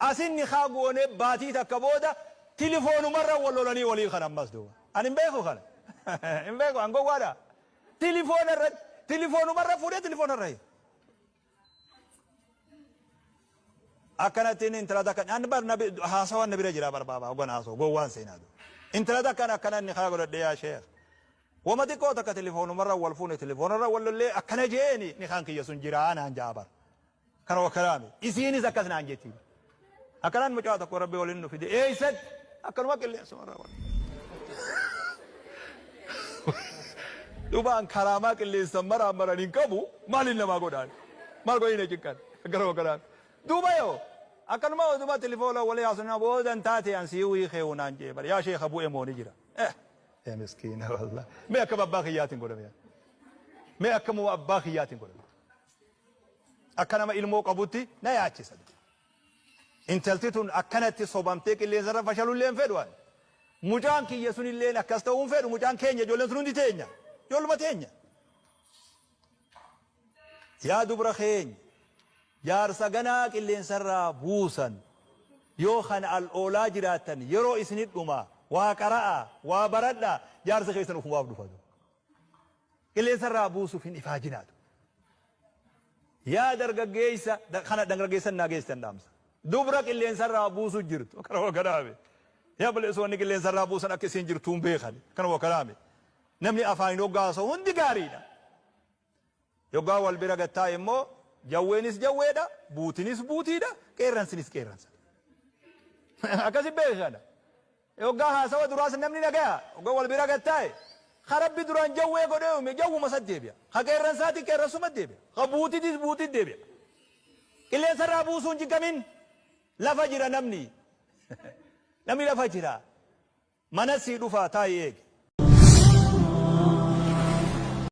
Asin nikhaa goonee baatii takka booda tilifoonumarra wal lolanii waliin kan ammas duuba. Ani hin beeku kana. Hin beeku an gowwaadha. Tilifoona irratti tilifoonumarra fuudhee tilifoonarra hiike. Akkanatti inni intala takka an bar nabi haasawaan na bira jira bar baabaa hoggan haasoo gowwaan seenaa duuba. Intala takkaan akkana nikhaa godhadhee yaa sheekh. Wama xiqqoo takka tilifoonumarra wal fuune tilifoonumarra wal lollee akkana jeeni nikhaan kiyya sun jiraa naan ja'a bar. Kana wakkalaame. Isiinis akkas naan jetti. Akkanaan mucaa tokko Rabbi waliin nu fide. Eessatti? Akkanuma qilleensumarraa wal. Duuba an karaamaa qilleensan maraan maran hin qabu maaliin namaa godhaan? Maal godhanii na cinqan? Gara wakkalaame. Duuba yoo akkanuma oduma tilifoola walii haasofnaa boodan taate an sii wii keewu naan jee bar yaa sheeka bu'e moo ni jira? Eh! Ee miskiina wallah. Mee akkam abbaa kiyyaatiin godhame yaa. Mee akkamuma abbaa kiyyaatiin godhame. Akka nama ilmoo qabutti na yaachisa. Intalti tun akkanatti sobamtee qilleensarra fashalullee hin fedhu ani. Mucaan kiyya sunilleen akkas ta'uu hin fedhu mucaan keenya ijoolleen sun hundi teenya. Ijoolluma teenya. Yaa dubra keenya jaarsa ganaa qilleensarraa buusan yoo kan al oolaa jiraattan yeroo isinidhuma waa qara'aa waa baradhaa jaarsi keessan ofumaaf dhufatu. Qilleensa irraa buusuuf hin ifaajinaa tu. Yaa dargaggeessa kana dangraggeessan naa geessitan dhaamsa. Dubra qilleensa irraa buusu jirtu akkana wa kanaame. Yaa balleessoonni qilleensa irraa buusan akka isiin jirtuu hin beekan akkana wa kanaame. Namni afaaniin hoggaa haasa'u hundi gaariidha. Yoggaa wal bira gad taa'e immoo jawweenis jawweedha, buutinis buutiidha, qeerransinis qeerransadha. Akkasi beekana. e hoggaa haasawa duraas namni nagaya hogga wal bira gad taa'e ka rabbi duraan jawwee godhee uume jawwuma satti deebi'a ka qeerransaati qeerransumatti deebi'a ka buutitis buutitti deebi'a qilleensarraa buusuu hin jiggamin lafa jira namni namni lafa jira manas sii dhufaa taa'i eegi.